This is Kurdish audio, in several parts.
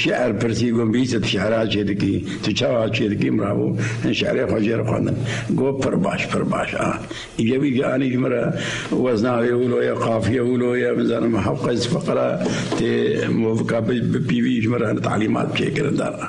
Şi'er pirsî got bîyî tu şi'era çê dikî, tu çawa çê dikî min ra got hin şi'erê xwe jê re xwendin. Got pir baş, pir baş a. Îca wî jî anî ji min re wezna wê wilo ye, qafiye wilo ye, min zanim hewqej fiqira tê movika bipîvî ji min re hin talîmat çêkirin dan a.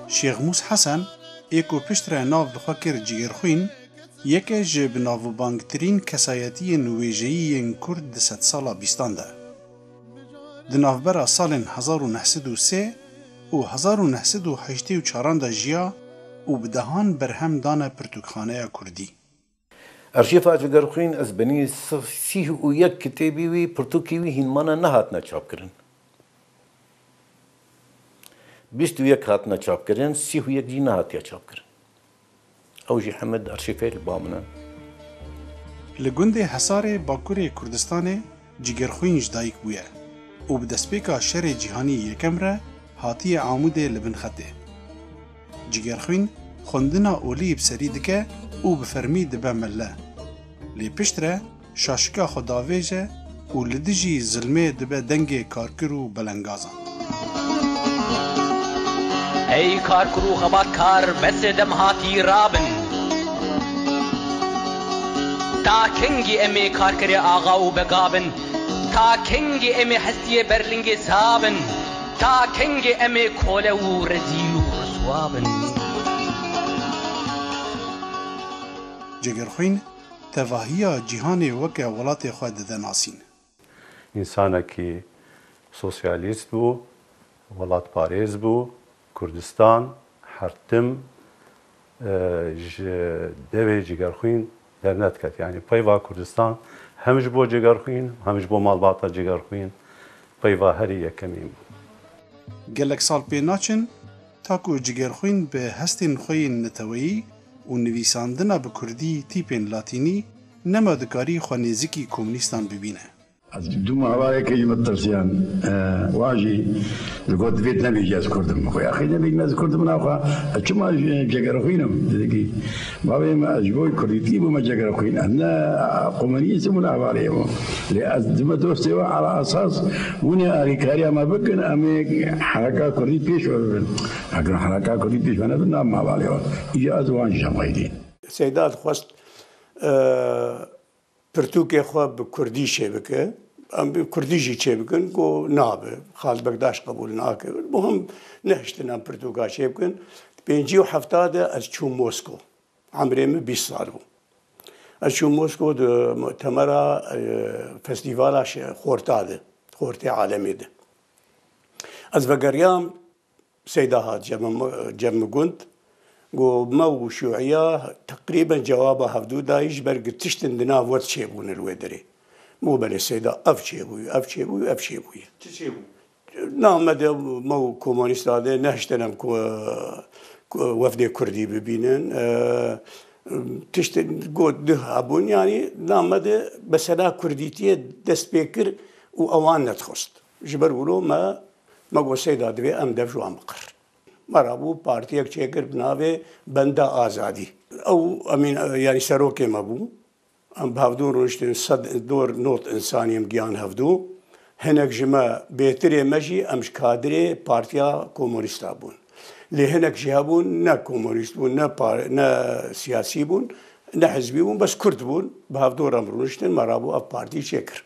Şêxmûs Hesen ê ku piştre nav bi xwe kir Cigêrxwîn, yeke ji bi navbangtirîn kesayetiyên wêjeyî yên Kurd di sedsala bîstan de. Di navbera salên hezar û neh sed û sê û hezar û neh sed û heştê û çaran de jiya û bi dehan berhem dane pirtûkxaneya Kurdî. Arşîva Jigerxwîn ez benî sih û yek kitêbî wî pirtûkî wî hîn mane nehatine çapkirin. Bîst û yek hatine çapkirin, sih û yek jî nehatiye çapkirin. Ew jî heme di arşîfê li ba min in. Li gundê Hesarê bakurê Kurdistanê, Cîgerxwîn ji dayik bûye û bi destpêka Şerê Cîhanî Yekem re hatiye Amûdê li bin xetê. Cîgerxwîn xwendina olî bi serî dike û bi fermî dibe melle. Lê piştre şaşika xwe davêje û li dijî zilmê dibe dengê karkir û belengazan. Ey kar kur û xebat kar besê dem hatî rabin. Ta kengî emê karkerê axa û bega bin? Ta kengî emê hestiyê berlingê sa bin? Ta kengê emê kole û rezîl û riswa bin? Cegerxwîn, tevahiya cîhanê weke welatê xwe dide nasîn. Însanekî sosyalîst bû, welatparêz bû, Kurdistan, hertim ji devê cigerxwîn dernediket. Yanî peyva Kurdistan hem ji bo cigerxwîn û hem ji bo malbata cigerxwîn peyva herî yekemîn bû. Gelek sal pê naçin ta ku cigerxwîn bi hestên xwe yên neteweyî û nivîsandina bi kurdî tîpên latînî Nema dikarî xwe nêzikî komnîstan bibîne. Ez du malayekê ji min pirsiyan, wan jî digot divê tu nebêjî ez kurd im. Min got yaqî nebêjî ez kurd im naxwe ez çima cegerxwîn im. Dîdikî, bavê min ez ji bo kurdîtî bûme cegerxwîn ez ne komnîst im û ne hevaliyê bûm. Lê ez dime dostê wan ala esas hûnê alîkariya me bikin em ê heraka kurdî pêş ve bibin. Eger hûn heraka kurdî pêş ve nebin nabin hevalê wan. Îja ez û wan jî hemxeylîn. Seyda dixwest Pirtûkê xwe bi kurdî çêbike. Em bi kurdî jî çêbikin ku nabe. Xalid Bekdaş qebûl nake. Muhim nehiştin em pirtûka çêbikin. Di pêncî û hefta de ez çûm Mosko. Emrê min bîst sal bû. Ez çûm Mosko di mu'temera festîvala xorta de, xortê alemê de. Ez vegeriyam. Seyda Hat Cemigund, ku me û Şûîya teqrîben cewaba hevdu dayî ji ber ku tiştên di nav we ti çêbûne li wê derê. Min got belê Seyda ev çêbû, ev çêbû û ev çêbû ye. Çi çêbû? Na me de me û Komanîst Adê nehiştin em ku wefdê Kurdî bibînin. Tiştên got duh hebûn. Yanî na me de mesela Kurdîtiyê dest pê kir û ewan nedixwest. Ji ber wilo me me got Seyda divê em dev ji wan biqirrin. Me rabû partiyek çêkir bi navê Benda Azadî. Ew emîn yanî serokê me bû. Em bi hevdû rûniştin sed dor not însanî em giyan hevdû. Hinek ji me bêtirê me jî em ji kadirê Partiya Komûnîst a bûn. Lê hinek jî hebûn ne komûnîst bûn ne ne siyasî bûn ne hizbî bûn bes kurd bûn. Bi hevdor em rûniştin me rabû ev partî çêkirin.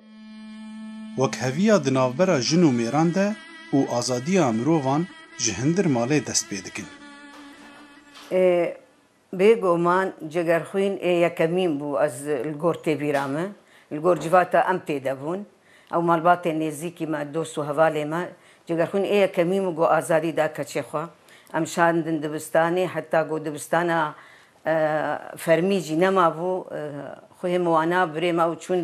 Wekheviya di navbera jin û mêran de û azadiya mirovan ji hindir malê dest pê dikin. E, bêguman Cegerxwîn ê yekemîn bû ez li gor têbîra min, li gor civata em tê de bûn, ew malbatên nêzîkî me, dost û hevalên me, Cegerxwîn ê yekemîn bû ku azadî da keçê xwe. Em şandin dibistanê heta ku dibistana fermî jî nemabû. Xwe hê min wana birê me û çûn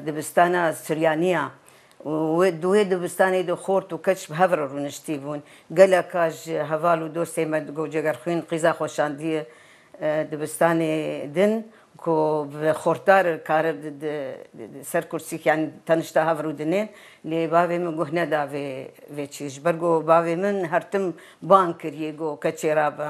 dibistana Suryanîya û di wê dibistanê de xort û keç bi hev re rûniştî bûn. Geleka ji heval û dostên me di Gocegerxwîn qîza xwe şandîye dibistanê din ku bi xortar kare di ser kursî yanî tenişta hev rûdinên. Lê bavê min guh neda vê çî. Ji ber ku bavê min her tim bang kirî ku keçê rabe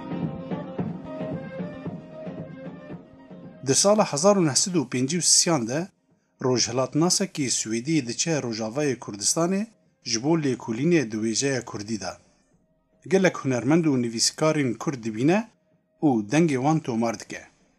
Di sala hezar û neh sed û pêncî û siyan de rojhilatnasekî swêdî diçe rojavayê Kurdistanê ji bo lêkolînê di wêjeya kurdî de gelek hunermend û nivîskarên kurd dibîne û dengê wan tomar dike.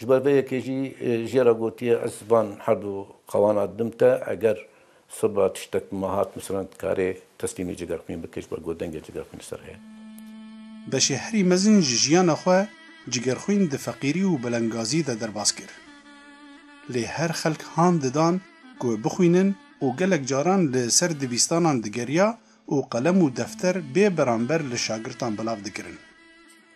Ji ber vê yekê jî jê re gotiye ez van herdû qawana didim te eger seba tiştek ma hat misalan dikarê teslîmî Cigerxwîn bike ji ber ku dengê Cigerxwîn li ser heye. Beşê herî mezin ji jiyana xwe Cigerxwîn di feqîrî û belengazî de derbas kir. Lê her xelk han didan ku bixwînin û gelek caran li ser dibîstanan digeriya û qelem û defter bê beramber li şagirtan belav dikirin.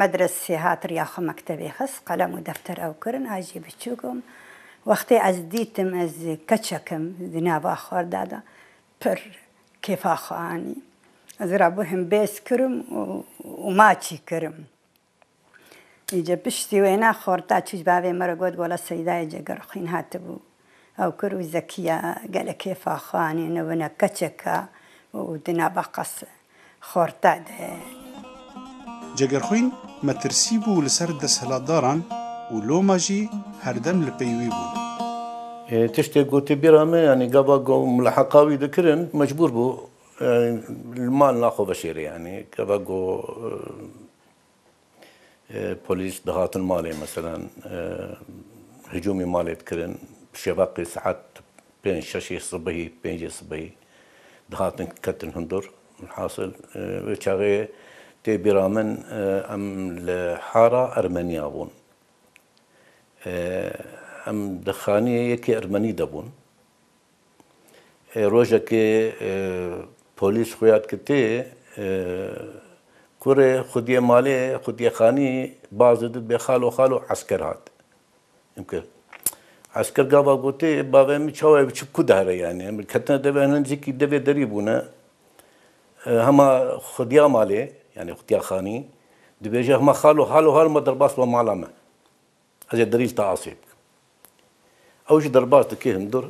Medresê hat riya xwe mektebê xist qelem û defter ew kirin a jî biçûk im wextê ez dîtim ez keçek im di nava xwarda de pir kêfa xwe anî ez rabûhim bêz kirim û maçî kirim îca piştî wêne xwarda çû ji bavê min re got gola Seyîdayê Cegirxwîn hatibû Ew kir û Zekiya gelek hêfa xwe anî nivine keçeka û di nava qas xorta de ye. Cegerxwîn metirsî bû li ser desthilatdaran û loma jî herdem li pey wî bûn. Tiştê gotî bîra me yanî gava ku muleheqa wî dikirin mecbûr bû li mal naxwe veşêrê yanî gava ku Polîs dihatin malê meselan hicûmê malê dikirin şevaqê saet pênc şeşê sibehî pêncê sibehî dihatin ketin hundir. Hasil wê çaxê tê bîra min em li hara Ermeniya bûn. Em di xaniyê yekê Ermenî de bûn. Rojekê polîs xuya dike tê kurê xwediyê malê xwediyê xanî bazê di bê xalo xalo esker hat. Çimkî esker gava gotê bavê min çawa ev çi ku dihre yanî em ketine devê hene nizîkî devê derî bûne hema xwediya malê yanî xwediya xanî dibêje hema xalo xalo ma derbas be mala me. Ez ê dirîj taasê bikim. Ew jî derbas dike hundir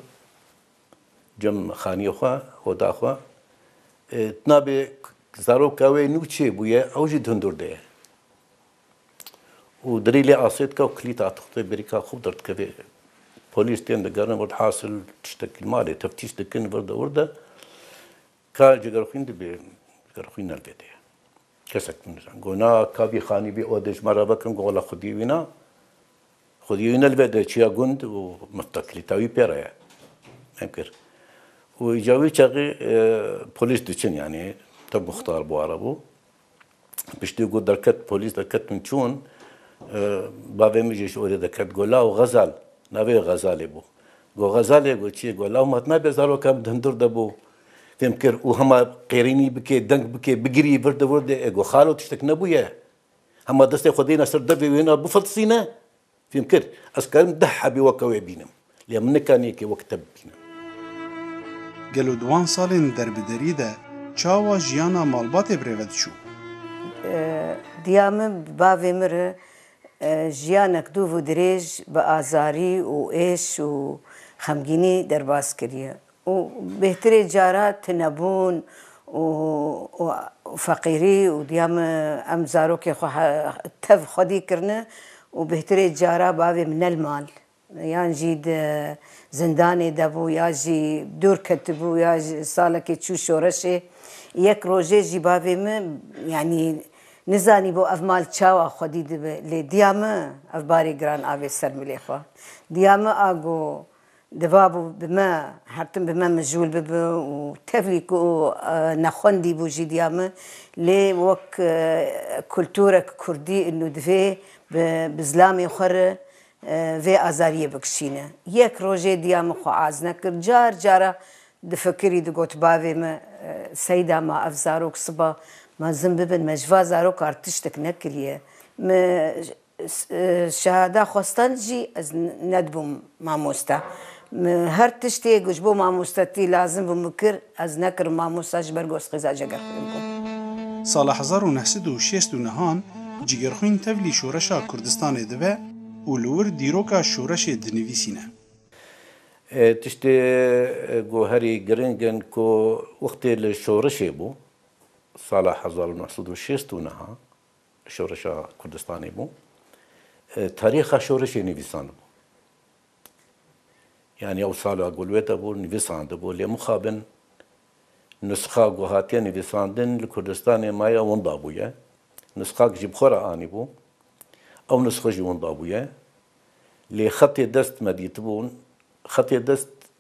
cem xaniyê xwe, oda xwe. Tu nabê zaroka wê nû çê bûye, ew jî hundir de ye. Û dirî lê asê dike û kilît atixte bêrîka xwe derdikeve. Polîs tên digerin vir, hasil tiştekî malê teftîş dikin vir de wir de. Ka jigerxwîn dibe jigerxwîn ne dede ye. Kesek min nizan got na ka bî xanî bî odê ji me re vekin got wela xwediyê wî na. Xwediyê wî ne li vê de çiya gund û miftakilîta wî pê re ye. Em kir. Û îca wî çaxê polîs diçin yanî te muxtar bû ara bû. Piştî ku derket polîs derketin çûn, bavê min jî ji orê derket got law Xezal, navê wê Xezalê bû. Got Xezalê got çi? Got law min nabe zaroka min di hundir de bû fêm kir û hema qêrînî bike, deng bike, bigirî vir de vir de. Ê got xalo tiştek nebûye? Hema destê xwe dêne ser devê wê na bifiltisîne? Fêm kir, ez karim deh hebî weke wê bînim, lê min nikanî yekê wek te bibînim. Gelo di wan salên derbiderî de çawa jiyana malbatê bi rê ve diçû? Diya min bi bavê min re jiyanek dûv û dirêj bi azarî û êş û xemgînî derbas kiriye. û bêhtirê cara tunebûn û feqîrî û diya min em zarokê xwe tev xwedî kirine û bêhtirê cara bavê min ne li mal yan jî di zindanê de bû ya jî dûr ketibû ya jî salekê çû şoreşê. Yek rojê jî bavê min yanî nizanîbû ev mal çawa xwedî dibe lê diya min ev barê giran avê ser milê xwe. Diya min a got. Divabû bi me her tim bi me mijûl bibe û tevlî ku nexwendî bû jî diya min lê wek kulturek kurdî û divê bi zilamê xwe re vê azariyê bikişîne. Yek rojê diya min xwe az nekir. Car cara difikirî digot bavê min Seyda ma ev zarok siba mezin bibin me ji va zarokar tiştek nekiriye. Min Şehada xwestan jî ez nedibûm mamoste. Min her tiştê ku ji bo mamostatî lazim bû min kir, ez nekirim mamosta ji ber ku ez xêza Cegerxwîn bûm. Sala hezar û neh sed û şêst û nihan Cigerxwîn tevlî şoreşa Kurdistanê dibe û li wir dîroka şoreşê dinivîsîne. Tiştê ku herî giring in ku wextê li şoreşê bû sala hezar û neh sed û şêst û niha Şoreşa Kurdistanê bû. Tarîxa şoreşê nivîsanibû. Yani ew sala gulwête bû, nivîsandibû. Lê mixabin nusxa ku hatiye nivîsandin li Kurdistanê maye winda bûye. Nusxak jî bi xwe re anîbû. Ew nusxa jî winda bûye. Lê xetê dest me dîtibûn. Xetê dest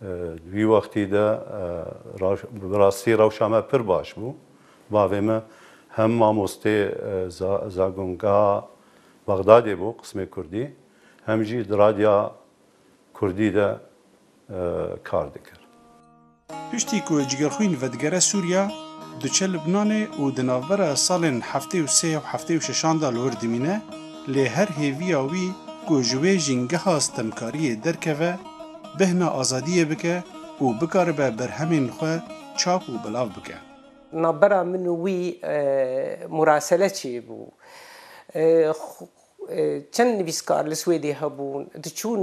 Di wî wextî de bi rastî rewşa me pir baş bû. Bavê min hem mamostê Zagongeha Bexdadê bû qismê kurdî, hem jî di radya kurdî de kar dikir. Piştî ku Cîgerxwîn vedigere Sûriya, diçe Libnanê û di navbera salên heftê û sê û heftê û şeşan de li wir dimîne. Lê her hêviya wî ku ji wê jîngeha stemkariyê derkeve, bêhna azadiyê bike û bikaribe berhemên xwe çap û belav bike. Navbera min û wî murasele çêbû. Çend nivîskar li Swêdê hebûn, diçûn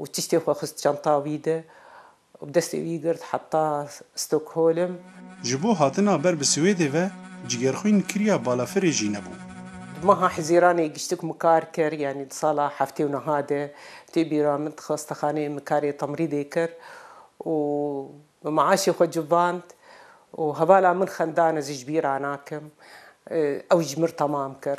û tiştê xwe xist çanta wî de û bi destê wî girt heta Stockholm. Ji bo hatina ber bi Swêdê ve cîgerxwîn kiriya balafirê jî nebû. Di meha Hizîranê giştik Mikar kir yanî di sala heftê û niha de tê bîra min di xastexaneyê Mikarê temrîdê kir û bi meaşê xwe civand û hevala min xendan ez ji bîra nakim ew ji min tamam kir.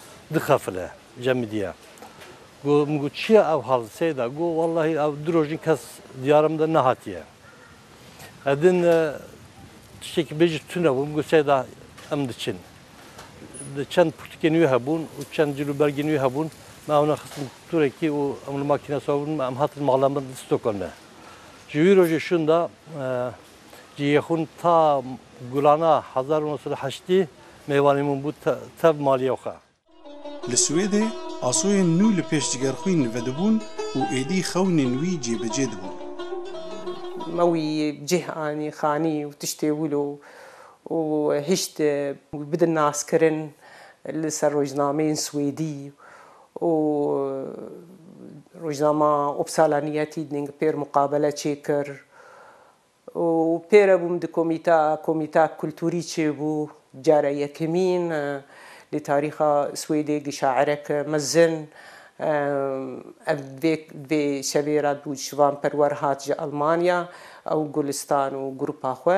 Dixefile cemidîya. Go min got çi ye ew hal seyda? Go wellahî ew du rojîn kes diyara min de nehatiye. Edin tiştekî bêjî tune bû. Min got seyda em diçin. Çend pirtûkên wî hebûn û çend cil û bergên wî hebûn. Me ewne xistin turekî û em li makîna siwar bûn. Em hatin mala min Stockholmê. Ji wî rojê şûn de. Ji Yexûn ta Gulana hezar û nod sed û heştî mêvanê min bû tev maliyê xwe. Li Swêdê asoyên nû li pêş cigerxwîn vedibûn û êdî xewnên wî cêbicê dibûn. Me wî cih anî xanî û tiştê wilo û hişt wî bidin naskirin li ser rojnameyên swêdî û rojnama Uppsala Nya Tidning pêr muqabele çêkir. û pê re bûm di komîta komîta kulturî çêbû cara yekemîn li tarîxa swêdê gi şairek mezin ev vê vê şevê re dû şivan perwer hat ji almanya ew gulistan û grupa xwe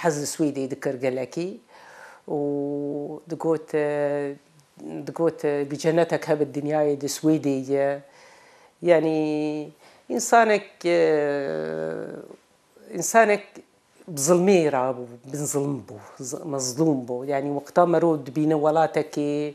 Hez li Swîdê dikir gelekî û digot digot bi cenetek hev bi dinyayê di Swîdê ye. Yanî însanek însanek bi zilmê re bû, bin zilm bû, mezlûm bû. Yanî wexta merov dibîne welatekê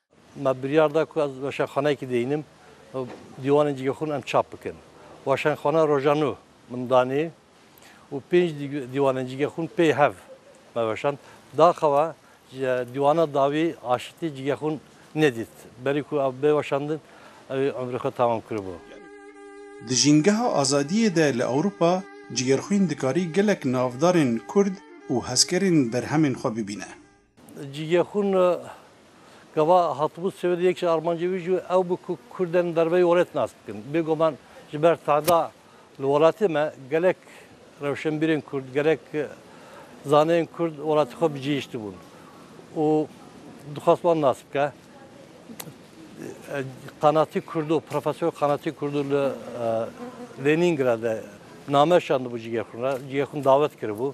Me biryar da ku ez weşanxaneyekî deyînim û dîwanên cîgexûn em çap bikin. Weşanxaneya Roja Nû min danî û pênc dîwanên cîgexûn pê hev me weşand. Daxewa ji dîwana dawî aşitî cîgexûn nedît. Berî ku ew bê weşandin ewê umrê xwe temam kiribû. Di Jîngeha Azadiyê de li Ewropa cîgerxwîn dikarî gelek navdarên Kurd û hezkerên berhemên xwe bibîne. Cîgexûn gava hatibû Swêdê yek ji armancên wî jî ew bû ku Kurden derbeyî Orê tinas bikin. Bêguman ji ber tahda li welatê me gelek rewşenbîrên Kurd, gelek zaneyên Kurd welatê xwe bicihîştibûn û dixwest wan nas bike. Qanatî Kurdo, Profesor Qanatî Kurdo li Lenîngradê name şandibû Cîgexûn re. Cîgexûn davet kiribû.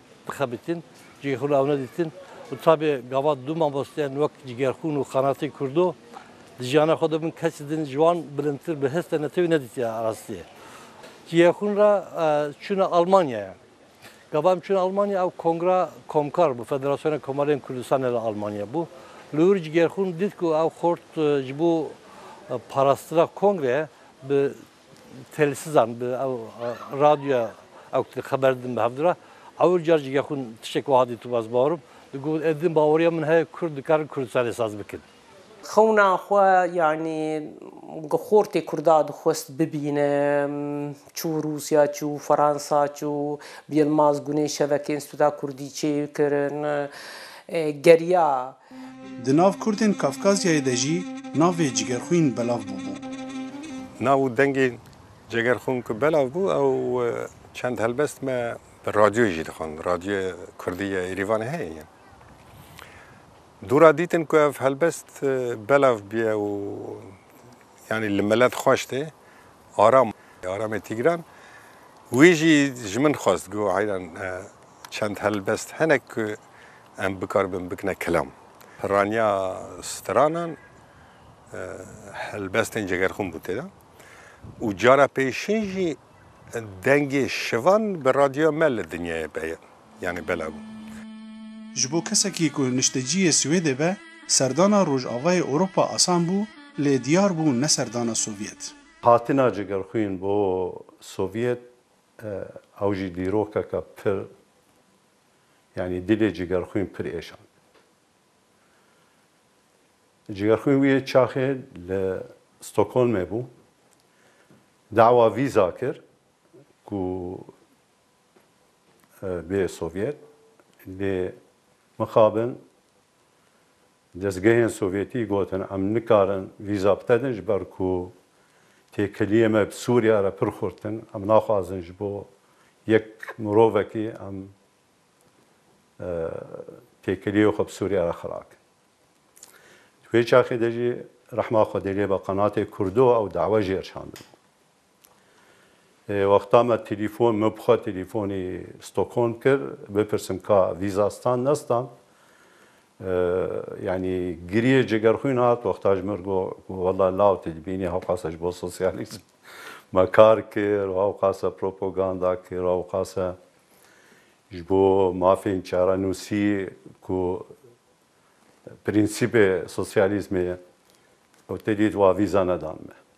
Dixebitin, cihê xwe li ew neditin û tabê gavat du mamosteyan wek cîgerxûn û qanatên Kurdo di jiyana xwe de bûn kesî din ji wan bilindtir bi hêz te netewî nedîtiye rastiyê. Cîyexûn re çûne Almanyaya. Gava em çûne Almanya ew kongra komkar bû Federasyona Komarên Kurdistanê li Almanya bû. Li wir cîgerxûn dît ku ew xort ji bo parastina kongre bi Têlsizan bi ew radyoya ew ki xeber didin bi hev dira. Ewil car jî gexwin tiştek wiha dît û ez bawerim. Digot ê din baweriya min heye kurd dikarin Kurdistanê saz bikin. Xewna xwe yanî gi xortê kurda dixwest bibîne. Çû Rûsya, çû Fransa, çû bi Yilmaz Guney şevekê Înstîtuta Kurdî çêkirin. Geriya Di nav Kurdên Kafkazyayê de jî navê Cigerxwîn belav bûbû. Nav û dengê Cegerxwin ku belav bû ew çend helbest me bi radyoyê jî dixwend. Radyoya Kurdî ya Êrîvanê heye yen. Dûra dîtin ku ev helbest belav bûye û yanî li melet xweş tê. Aram, Aramê Tîgran wî jî ji min xwest, got heyran Çend helbest hene ku em bikar bin bikine kelam. Pirraniya stranan helbestên cegerxûn bû tê de û cara pêşîn jî dengê şivan bi radyoya me li dinyayê be yanî belav bû. Ji bo kesekî ku nişteciyê Swêdê be, serdana Rojavayê Ewropa asan bû, lê diyar bû ne serdana Sovyet. Hatina cegerxwîn bo Sovyet Ew jî dîrokeke pir yanî dilê Cîgerxwîn pir êşand. Cîgerxwîn wî çaxê li Stockholmê bû, dawa vîza kir ku bê Sovyet lê mixabin Dezgehên Sovyetî gotin em nikarin vîza btedin ji ber ku têkiliyê me bi Sûriya re pir xurt in. Em naxwazin ji bo yek mirovekî em têkiliyê xwe bi Sûriya re xira bikin. Di wê çaxê de jî rehma Xwedê lê be qenatê Kurdo ew dawa jêr çandibû. Wexta me telefon min bi xwe telefonê Stockholm kir bipirsim ka vîza stand nestand. Yanî giriyê cigerxwîn hat wexta ji min re got ku wela law tu dibînî hewqase ji bo sosyalîzm me kar kir û hewqase propoganda kir û hewqase ji bo mafên çare nûsî ku prensîbê sosyalîzmê ye û te dît wa vîza nedan me.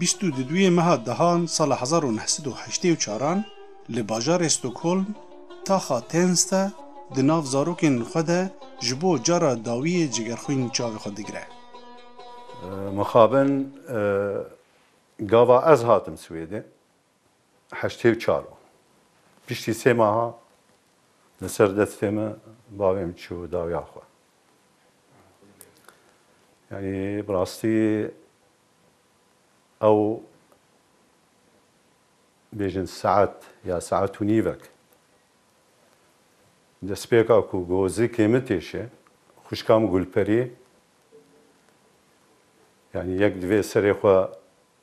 Bîst û duyê meha dehan sala hezar û neh sed û heştê û çaran li bajarê Stockholm taxa Tensta di nav zarokên xwe de ji bo cara dawiyê cigerxwîn çavê xwe digire. Mixabin gava ez hatim Swêdê. Heştê û çar o. Piştî sê meha li ser destê me bavê min çû dawiya xwe. Yanî bi rastî ew bêjin saet ya saet û nîvek destpêka ku gozikê min têşe xwişka min Gulperî yanî yek divê serê xwe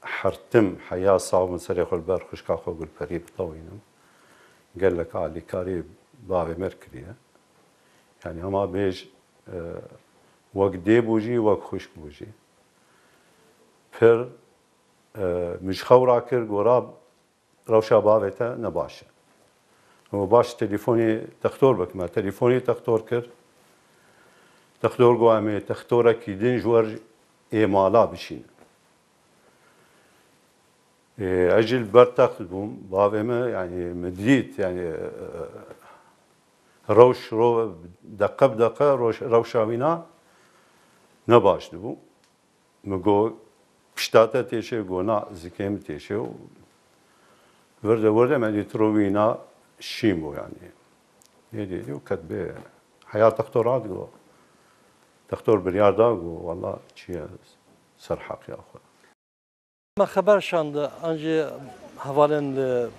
Hertim heya sax bin serê xwe li ber xwişka xwe Gulperî bixewînim. Gelek alîkarî bavê me kiriye. Yanî hema bêj wek dê bû jî wek xwişk bû jî. Pir min ji xew rakir gora Rewşa bavê te ne baş e. Hûn baş telîfonê textor bike me telîfonê textor kir. Textor got em ê textorekî din ji wer ê mala bişînin. Ez jî li ber text bûm. Bavê me yanî min dît yanî rewş deqe bi deqe rewşa wî na ne baş dibû. Min got, Pişta te têşê? Got, Na, zikê min têşê û wirde wirde me dît rûvîna Şîmo yanî. Yê dîtî û ket bê heya textora digo. Textor biryar da got, Wela çi ye serheqya xwe. Me xeber şand an jî hevalên li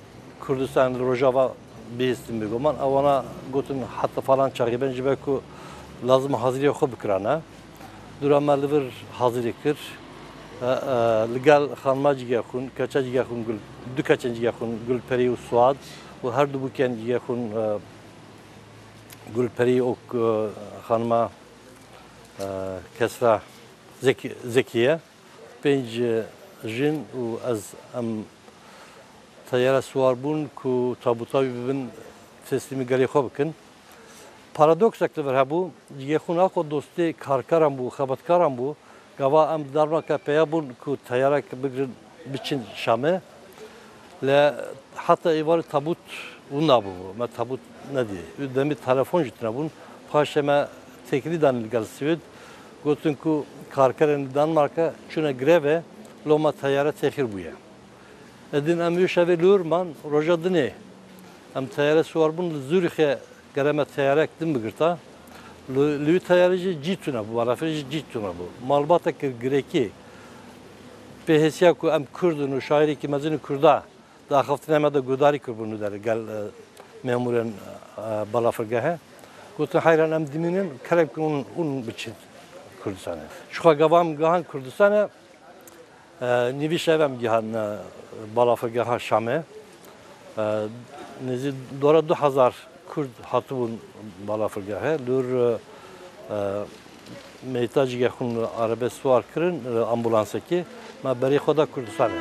Kurdistanê li Rojava bihîstin bê goman. Ew wana gotin heta falan çaxê bên ji ber ku lazim hazirîya xwe bikirane. Dûra me li vir hazirî kir. Li gel xanima cîgeh xwîn, keça cîgeh xwîn Gul, du keçên cîgeh xwîn Gulperî û Suad û her du bûkên cîgeh xwîn Gulperî û xanima Kesra Zekiye. Pênc jin û ez em teyara siwar bûn ku tabûta wî bibin teslîmî gelê xwe bikin. Paradoksek li vir hebû, cihê xwe naxwe dostê karkeran bû, xebatkaran bû. Gava em di dermeke peya bûn ku teyarek bigirin biçin Şamê. Lê heta êvarê tabût wina bûbû. Me tabût nedî. Demê telefon jî tune bûn. Paşê me têkilî danîn li gel Swêd. Gotin ku karkerên li Danmarka çûne grevê, loma teyare têxîr bûye. Edin em Îşevê li wir man, roja dinê em teyare siwar bûn li Zurîxê gere me teyarek din bigirta. Li wî teyare jî cî tune bû, balafirê jî cî tune bû. Malbate kir girekî pê hêsiya ku em Kurd in û şaîrekî mezin in Kurda Di axaftina me de guhdarî kiribû li derê gel memûrên balafirgehê. Gotin heyran em dimînin kerem ku hûn biçin Kurdistanê. Çixa gava em gihand Kurdistanê nîvî şevê em gihand balafirgeha Şamê. Nêzî dora du hezar Kurd hatibûn balafirgehê. Li wir Meytacî ge xwin li arebe siwar kirin li ambulansekê ma berê xwe da Kurdistanê.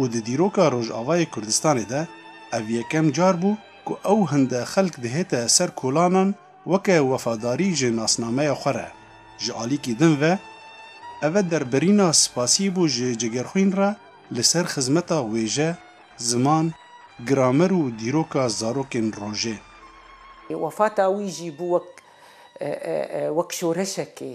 û di dîroka Rojavayê Kurdistanê de ev yekem car bû ku ew hinde xelk dihête ser kolanan weke wefadarî ji nasnameya xwe re. Ji alîkî din ve eve derbirîna spasî bû ji Cigerxwîn re li ser xizmeta wêje, ziman, gramer û dîroka zarokên rojê. Wefata wî jî bû wek wek şoreşekê.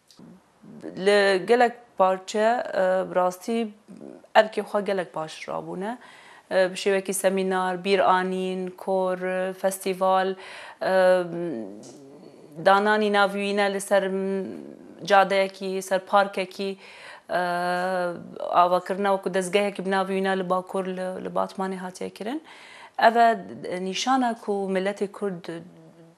Li gelek parçe bi rastî erkê xwe gelek baş rabûne. Bi şêwekî semînar, bîranîn, kor, festîval, dananî nav û yîne li ser cadeyekî, li ser parkekî, avakirina wekû dezgehekî bi nav û yîne li Bakur li Batmanê hatiye kirin. Ev e nîşanek ku miletê Kurd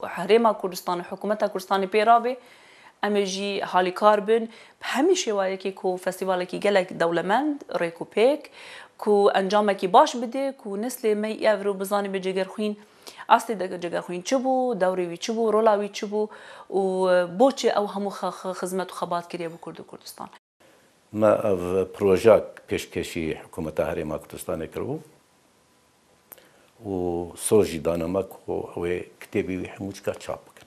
Herêma Kurdistan û Hikûmeta Kurdistanê pê re be, em ê jî halîkar bin bi hemî şêwayekê ku festîvalekî gelek dewlemend, rêk û pêk, ku encamekî baş bide, ku neslê me yê ev rû bizanîbe Cegerxwîn estê de Cegerxwîn çi bû, dewrê wî çi bû, rola wî çi bû û boçi ew hemû xizmet û xebat kiriye bo Kurd û Kurdistan. Me ev proja pêşkêşî Hikûmeta Herêma Kurdistanê kiribû û soz jî dane me ku ew ê kitêbê wî hemû cika çap bikin.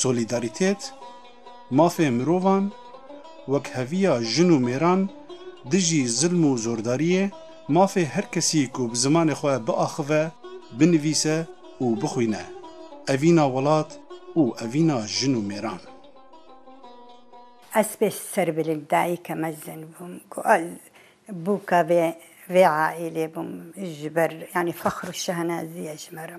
Solîdarîtet, mafê mirovan, wekheviya jin û mêran dijî zilm û zordariyê, mafê her kesî ku bi zimanê xwe biaxive, binivîse û bixwîne, evîna welat û evîna jin û mêran. Ez pê serbilind dayîke mezin bûm ku ez bûka vê vê aîlê bûm ji ber yanî fexr û şehnazî ye ji me re.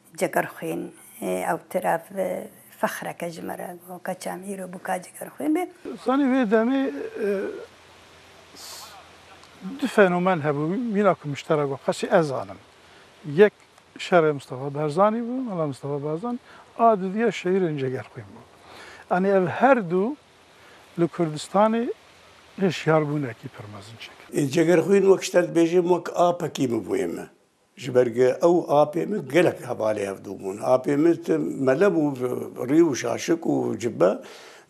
Cegerxwîn, ew tiraf fexreke ji me re bû, keçam îro bû ka Cegerxwîn be. Zanî wê demê du fenomen hebû mîna ku muşterek bû qasî ez zanim. Yek şerê Mistefa Barzanî bû, Mela Mistefa Barzanî a dudîya şeîrên Cegerxwîn bû. Yanî ev her du li Kurdistanê hişyarbûnekî pir mezin çêkir. Cegerxwîn wek şiterdibêjim wek apekî bû bo yê me. Ji ber ku ew apê min gelek hevalê hevdû bûn. Apê min ti mele bû, rî û şaşik û cibbe.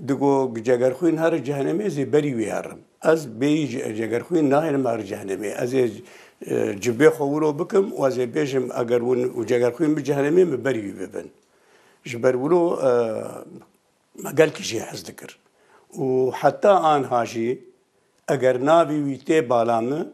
Di got, Cegerxwîn here cehenemê ez ê berî wî herim. Ez bêyî Cegerxwîn nahêlim here cehenemê. Ez ê cibê xwe wilo bikim û ez ê bêjim eger hûn û Cegerxwîn bi cehenemê min berî wî bibin. Ji ber wilo me gelkî jê hez dikir û heta anha jî eger navê wî tê bala min,